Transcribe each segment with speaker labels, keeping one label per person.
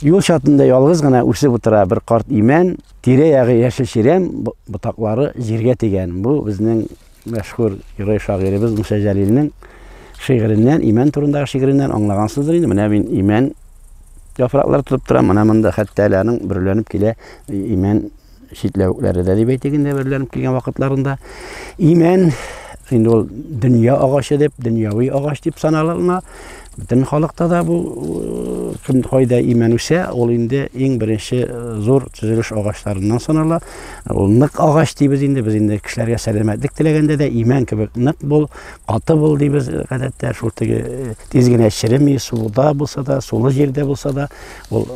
Speaker 1: Юл чатында ялгыз гына үсеп утыра бер карт имән, тирә-ягы яшел чирәм ботаклары җиргә тигән. Бу безнең мәшһүр герой шагыйребез Муса Җәлилнең шигыреннән, имән турындагы шигыреннән аңлагансыздыр инде. Менә мин имән яфраклар тотып торам, менә монда хәтта әле аның бөреләнеп килә имән читләвекләре дә дип әйтик инде берләнеп килгән вакытларында имән инде ул дөнья агачы дип дөньяви агач дип саналына бөтен халыкта да бу э, кем кайда имән үсә ул инде иң беренче э, зур төзелеш агачларыннан санала ул нык агач дибез инде без инде кешеләргә сәламәтлек теләгәндә дә имән кебек нык бул каты бул дибез гадәттә шул теге э, тиз генә череми суда булса да сулы җирдә булса да Ул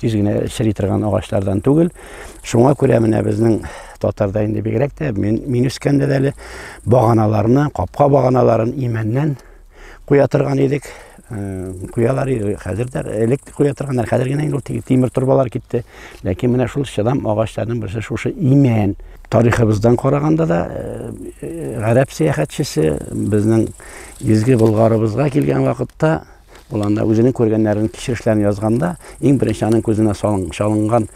Speaker 1: тиз генә чери торган агачлардан түгел. Шуңа күрә менә безнең татарда инде бигрәк тә мин мин үскәндә дә әле баганаларны, капка баганаларын имәннән куя торган идек. Э, куялар иде. Хәзер дә элек куя торганнар. Хәзер генә инде ул тимер торбалар китте. Ләкин менә шул чыдам агачларның берсе шушы имән. Тарихыбыздан караганда да э, э, гарәп сәяхәтчесе безнең изге Болгарыбызга килгән вакытта Ул анда үзенең күргәннәрен, кичерешләрен язганда, иң беренче аның күзенә чалынган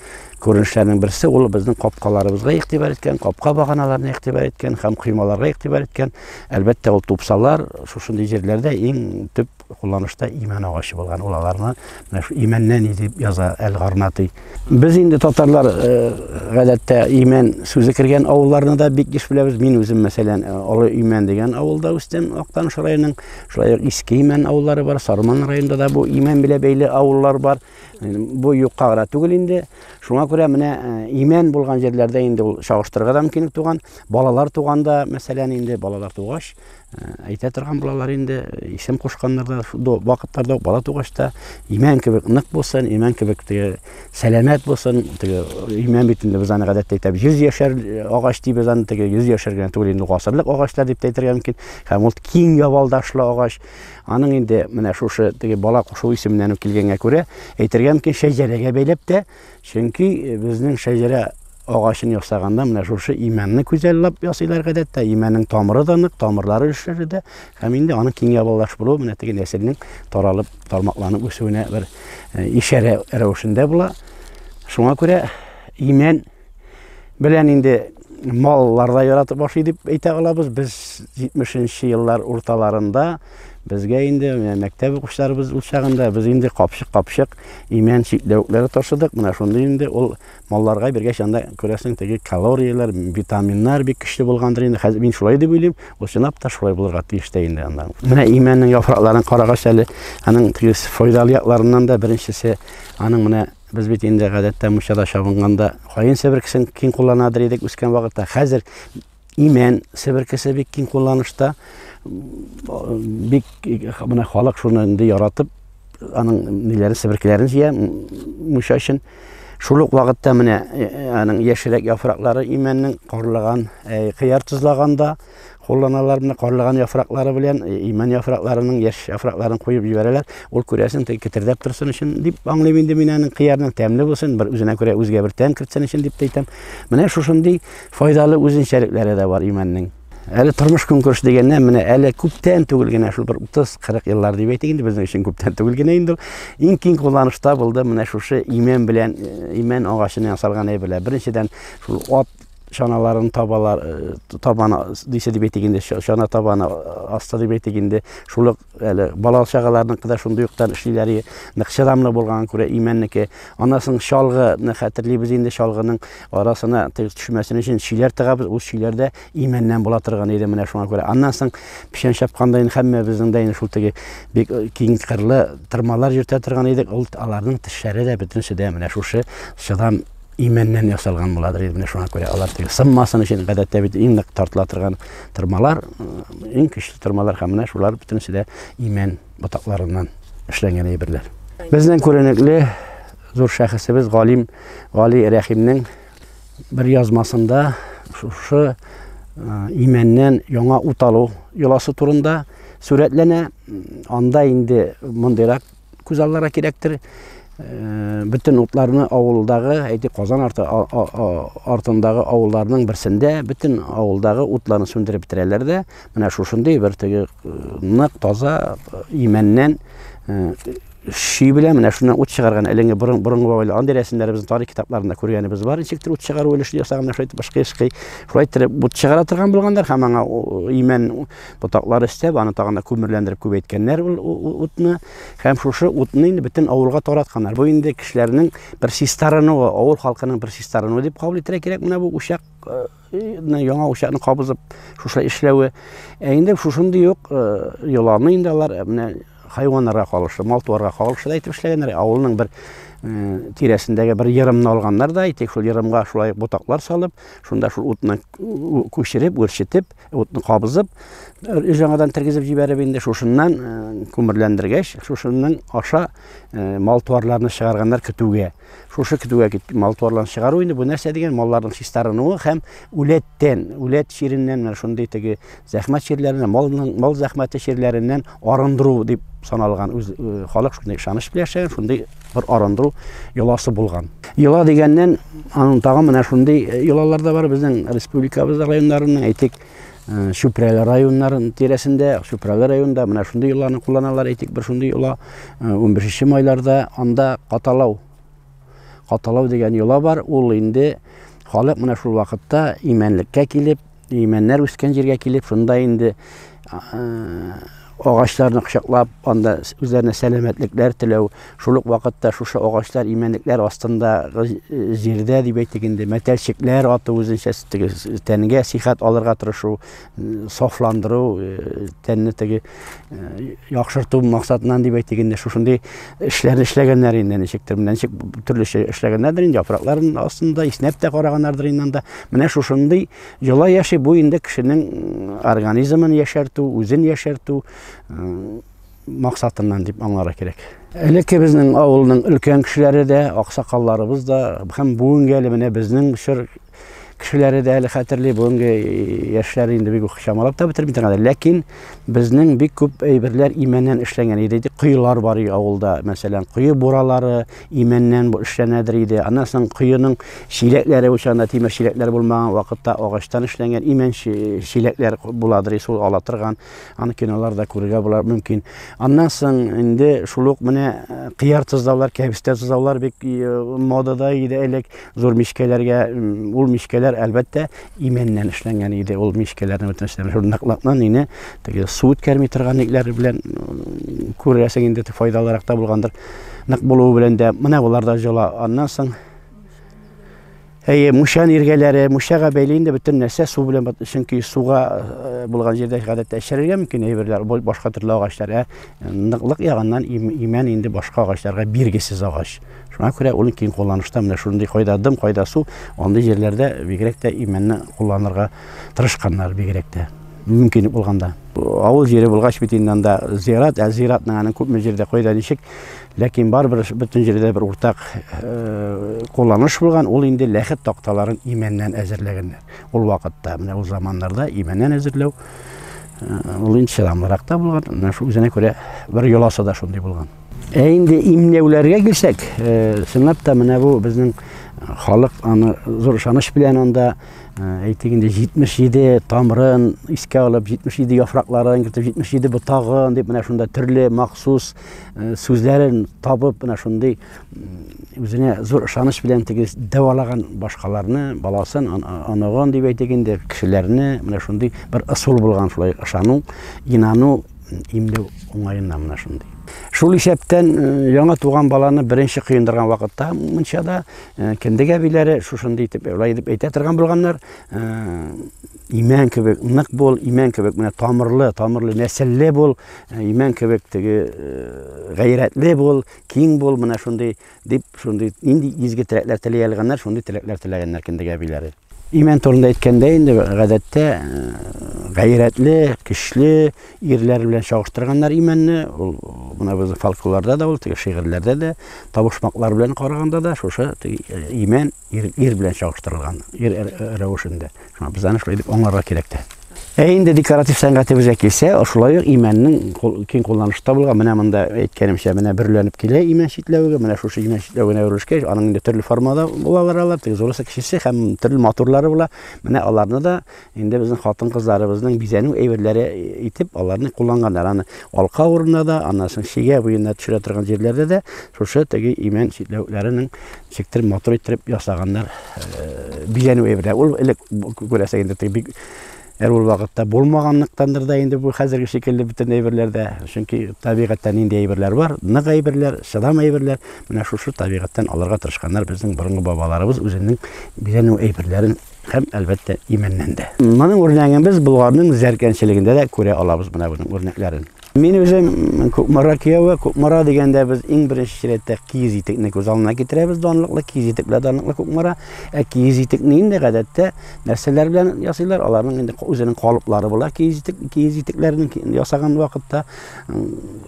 Speaker 1: күренешләрнең берсе ул безнең капкаларыбызга игътибар иткән, капка баганаларына игътибар иткән һәм коймаларга игътибар иткән. Әлбәттә, ул тупсалар шушындый җирләрдә иң төп кулланышта имән агачы булган. Ул аларны имәннән дип яза Әл-Гарнати. Без инде татарлар э, гадәттә Имән сүзе кергән авылларны да бик еш беләбез. Мин үзем мәсәлән э, Олы Имән дигән авылда үстем, Актаныш районының. Шулай ук Иске Имән авыллары бар, Сарман районында да бу Имән белән бәйле авыллар бар. Бу юкка гына түгел инде. Шуңа күрә менә э, Имән булган җирләрдә инде ул чагыштырырга да мөмкинлек туган. Балалар туганда, мәсәлән, инде балалар тугач, Әйтә торган булалар инде, исем кушканнар да до вакытларда бала тугач та имән кебек нык булсын, имән кебек теге сәламәт булсын. Теге имән бит инде без аны гадәттә әйтәбез. 100 яшәр агач дип без аны теге 100 яшәр генә түгел инде гасырлык агачлар дип әйтергә мөмкин. Һәм ул киң ябалдашлы агач. Аның инде менә шушы теге бала кушу исеменнән үк килгәнгә күрә әйтергә мөмкин шәҗәрәгә бәйләп тә Чөнки безнең шәҗәрә агачын ясаганда менә шушы имәнне күзәллап ясыйлар гадәттә. Имәннең тамыры да нык, тамырлары эшләре дә һәм инде аның киң ябалаш булуы менә теге нәселнең таралып, тармакланып үсүенә бер э, ишарә рәвешендә була. Шуңа күрә имән белән инде маллар да яратып ашый дип әйтә алабыз. Без 70 нче еллар урталарында Безгә инде менә мәктәп укучыларыбыз ул чагында без инде капчык-капчык имән чикләвекләре ташыдык. Менә шундый инде ул малларга бергә чанда күрәсең теге калорияләр, витаминнар бик көчле булгандыр инде. Хәзер мин шулай дип уйлыйм. Ул чынлап та шулай булырга тиеш тә инде анда. Менә имәннең яфракларын карагач әле, аның теге файдалы якларыннан да беренчесе аның менә Без бит инде гадәттә мунчада чабынганда каен себеркесен киң кулланадыр идек үскән вакытта. Хәзер Имән себеркесе бик киң кулланышта. Бик менә халык шуны инде яратып, аның ниләрен себеркеләрен җыя мунча өчен. Шул ук вакытта менә э, э, аның яшьрәк яфраклары имәннең карлыган, э, кыяр тозлаганда кулланалар менә карлыган яфраклары белән имән яфракларының яшь яфракларын куеп җибәрәләр. Ул күрәсен теге кетердәп торсын өчен дип аңлыйм инде мин аның кыярның тәмле булсын, бер үзенә күрә үзгә бер тәм кертсен өчен дип әйтәм. Менә шушындый Файдалы үзенчәлекләре дә бар имәннең. Әле тормыш көнкүреш дигәннән менә әле күптән түгел генә шул бер 30-40 еллар дип әйтик инде безнең өчен күптән түгел генә инде иң киң кулланышта булды менә шушы имән белән э, имән агачыннан ясалган әйберләр. Беренчедән шул ат чаналарын табалар э, табана дисә дип әйтик инде чана табаны э, аста дип әйтик инде шул Әле балалы чагаларныкы да шундый уктан эшлиләр, нык чыдамлы булганга күрә имәннеке. Аннан соң чалгыны хәтерлибез инде, чалгының арасына төшмәсен өчен чиләр тыгабыз, үз чиләрдә имәннән була торган иде менә шуңа күрә. Аннан соң печән чапканда инде һәммәбезнең дә инде шул теге бик э, киң кырлы тырмалар йөртә торган идек, ул аларның тешләре дә бөтенесе дә менә шушы чыдам имәннән ясалган буладыр инде менә шуңа күрә алар теге сынмасын өчен гадәттә бит иң нык тартыла торган тырмалар иң көчле тырмалар һәм менә шулар бөтенесе дә имән ботакларыннан эшләнгән әйберләр безнең күренекле зур шәхесебез галим гали рәхимнең бер язмасында шушы имәннән яңа ут алу йоласы турында сурәтләнә анда инде мондыйрак күз аллара кирәктер. Э, бөтен утларны авылдагы, әйти Казан арты артындагы авылларның берсендә бөтен авылдагы утларны сүндереп бетерәләр дә, менә шушындый бер теге э, нык таза э, имәннән ши белән менә шуннан ут чыгарган әлеге борын борынгы бабайлар андый рәсемнәребез тарих китапларында күргәнебез бар ничек ут чыгару өлеше ясаган шулай итеп башка ешкый шулай итеп ут чыгара торган булганнар һәм аңа имән Ботаклар өстәп, аны тагын да күмерләндереп күбәйткәннәр ул утны. Һәм шушы утны инде бөтен авылга таратканнар. Бу инде кешеләрнең бер чистарынуы, авыл халкының бер чистарынуы дип кабул итәргә кирәк. Менә бу учак э, яңа учакны кабызып шушы эшләве. Ә инде шушындый ук э, йоланы инде алар э, менә хайваннарга кагылышлы, мал-туарга кагылышлы әйтеп эшләгәннәр. Авылның бер тирәсендәге бер ерымны алганнар да, әйтик, шул ерымга шулай ботаклар салып, шунда шул утны күчереп, үрчетеп, утны кабызып жаңадан тергезеп җибәреп инде шушыннан күмерләндергәч шушының аша мал туарларны чыгарганнар көтүгә шушы көтүгә кит мал туарларын чыгару инде бу нәрсә дигән малларның чистарынуы һәм үләттән үләт чиреннән менә шундый теге зәхмәт чирләреннән малның мал зәхмәте чирләреннән арындыру дип саналган үз халык шундый ышаныч белән яшәгән шундый бер арындыру йоласы булган йола дигәннән аның тагы менә шундый йолалар да бар безнең республикабызда районнарының әйтик чүпрәле районнары тирәсендә чүпрәле районында менә шундый йоланы кулланалар әйтик бер шундый йола унбишенче майларда анда каталау каталау дигән йола бар ул инде халык менә шул вакытта имәнлеккә килеп Имәннәр үскән җиргә килеп, шунда инде агачларны кочаклап, анда үзләренә сәламәтлекләр теләү, шул ук вакытта шушы агачлар, имәнлекләр астында җирдә дип әйтик инде, мәтәлчекләр ату үзенчә теге тәнгә сихәт алырга тырышу, сафландыру, тәнне теге яхшырту максатыннан дип әйтик инде шушындый эшләрне эшләгәннәр инде ничектер менә ничек төрлечә эшләгәннәрдер инде яфракларын астында иснәп тә караганнардыр инде анда менә шушындый йола яши бу инде кешенең организмын яшәртү үзен яшәртү максатыннан дип аңларга кирәк элекке безнең авылның өлкән кешеләре дә аксакалларыбыз да һәм бүгенге әле менә безнең чор Кешеләре дә әле хәтерли, бүгенге яшьләр инде бик үк чамалап та бетерми торган. Ләкин безнең бик күп әйберләр имәннән эшләнгән иде. Коелар бар иде авылда, мәсәлән, кое буралары имәннән эшләнәдер иде. Аннан соң коеның чиләкләре учанда тимер чиләкләр булмаган вакытта агачтан эшләнгән имән чиләкләр буладыр иде, шул ала торган. Аны киноларда күрергә була мөмкин. Аннан соң инде шул ук менә кыяр тозлаулар, кәбестә тозлаулар бик модада иде элек. Зур мичкәләргә ул мичкәләр әлбәттә имәннән эшләнгән иде. Ул мичкәләрне бүтән эшләнгән. Шул наклаптан ине теге су үткәрми торган итләр белән күрәсең инде файдалырак та булгандыр. Нык булуы белән дә менә болар да җола. Аннан соң Әйе, мушан иргәләре, мушага бәйле инде бөтен нәрсә су белән чөнки суга э, булган җирдә гадәттә яшәргә мөмкин әйберләр, башка төрле агачлар, ә ныклык ягыннан имән инде башка агачларга биргесез агач. Шуңа күрә ул киң кулланышта менә шундый кайда дым, кайда су, андый җирләрдә бигрәк тә имәнне кулланырга тырышканнар бигрәк тә. Мөмкинлек булганда. Авыл җире булгач бит инде анда зират, ә зиратның аның күпме җирдә кайда ничек, ләкин барыбер бөтен җирдә бер уртак э, кулланыш булган, ул инде ләхет такталарын имәннән әзерләгәннәр. Ул вакытта, менә ул заманнарда имәннән әзерләү э, ул инде чыдамлырак та булган, менә шул үзенә күрә бер йоласы да шундый булган. Ә инде имнәүләргә килсәк, э, чынлап та менә бу безнең халык аны зур ышаныч белән анда э, әйтик инде 77 тамырын иске алып, 77 яфракларын кертеп, 77 ботагын дип менә шунда төрле махсус э, сүзләрен табып, менә шундый үзенә зур ышаныч белән теге дәвалаган башкаларны, баласын, аныгын дип әйтик инде, кешеләрне менә шундый бер ысул булган шулай ышану, инану имле уңаена менә шундый. Шул исәптән яңа туган баланы беренче кыендырган вакытта мунчада кендек әбиләре шушындый итеп шулай итеп әйтә торган булганнар. Имән кебек нык бул, имән кебек менә тамырлы, тамырлы нәселле бул, имән кебек теге гайрәтле бул, киң бул, менә шундый Дип, шундый нинди изге теләкләр теләй алганнар, шундый теләкләр теләгәннәр кендек әбиләре. Имән турында әйткәндә инде гадәттә э, гайрәтле, көчле ирләр белән чагыштырганнар имәнне. Ул менә безнең фольклорда да ул, теге шигырьләрдә дә, табышмаклар белән караганда да шушы э, имән Ир, ир белән чагыштырылган, ир рәвешендә. Шуңа без аны шулай дип аңларга кирәк тә. Ә инде декоратив сәнгатебезгә килсә, шулай ук имәннең киң кулланышта булган, менә монда әйткәнемчә, менә бөрләнеп килә имән читләвеге, менә шушы имән читләвегенә әверелешкәч, аның инде төрле формада булалар алар, теге зурысы, кечесе һәм төрле матурлары була. Менә аларны да Инде безнең хатын-кызларыбызның бизәнү әйберләре итеп аларны кулланганнар. Аны алка урынына да, аннан соң чигә буена төшерә торган җирләрдә дә шушы теге имән читләвекләренең чиктер матур иттереп ясаганнар э, бизәнү әйберләре. Ул элек күрәсең инде теге бик әр ул вакытта булмаганлыктандыр да инде бу хәзерге шикелле бөтен әйберләрдә. Чөнки табигатьтә нинди әйберләр бар, нык әйберләр, чыдам әйберләр, менә шушы табигатьтән алырга тырышканнар безнең борынгы бабаларыбыз үзенең бизәнү әйберләрен һәм, әлбәттә, имәннән дә. Моның үрнәген без Болгарның зәркәнчелегендә дә күрә алабыз менә буның үрнәкләрен. Мин үзем Кукмара кияве, Кукмара дигәндә без иң беренче чиратта киез итекне күз алдына китерәбез, данлыклы киез итек белән данлыклы Кукмара. Ә киез итекне инде гадәттә нәрсәләр белән ясыйлар? Аларның инде үзенең калыплары була киез итек, киез итекләрен ясаган вакытта.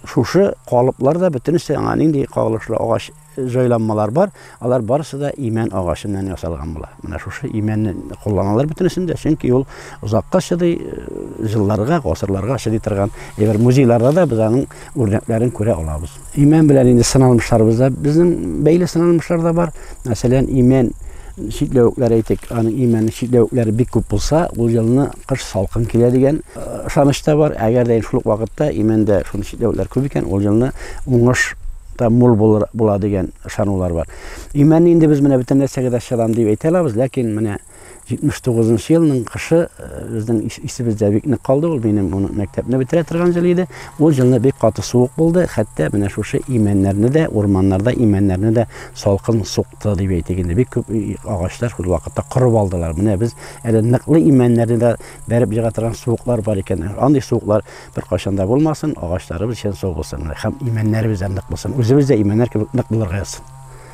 Speaker 1: Шушы калыплар да бөтенесе аңа нинди кагылышлы агач җайланмалар бар, алар барысы да имән агачы белән ясалган була. Менә шушы имәнне кулланалар бөтенесен дә, чөнки ул озакка чыдый, э, җылларга, гасырларга чыдый торган. Әгәр музейларда да без аның үрнәкләрен күрә алабыз. Имән белән инде сыналмышларыбыз да безнең бәйле сыналмышлар да бар. Мәсәлән, имән чикләвекләр әйтик, аның имәннең чикләвекләре бик күп булса, ул елны кыш салкын килә дигән ышаныч э, та бар. Әгәр дә шул вакытта имәндә шундый чикләвекләр күп икән, ул елны уңыш та мул булыр, була дигән ышанулар бар. Имәнне инде без менә бөтен нәрсәгә дә чыдам дип әйтә алабыз, ләкин менә 79 нчы елның кышы э, безнең исебездә бик нык калды ул, минем моны мәктәпне бетерә торган ел иде. Ул елны бик каты суык булды, хәтта менә шушы имәннәрне дә, урманнарда имәннәрне дә салкын сукты дип әйтик инде. Бик күп агачлар шул вакытта корып алдылар. Менә без әле ныклы имәннәрне дә бәреп җыга торган суыклар бар икән. Андый суыклар Беркайчан да булмасын, агачларыбыз чын сау булсын һәм имәннәребез дә нык булсын. Үзебез дә имәннәр кебек нык булырга язсын.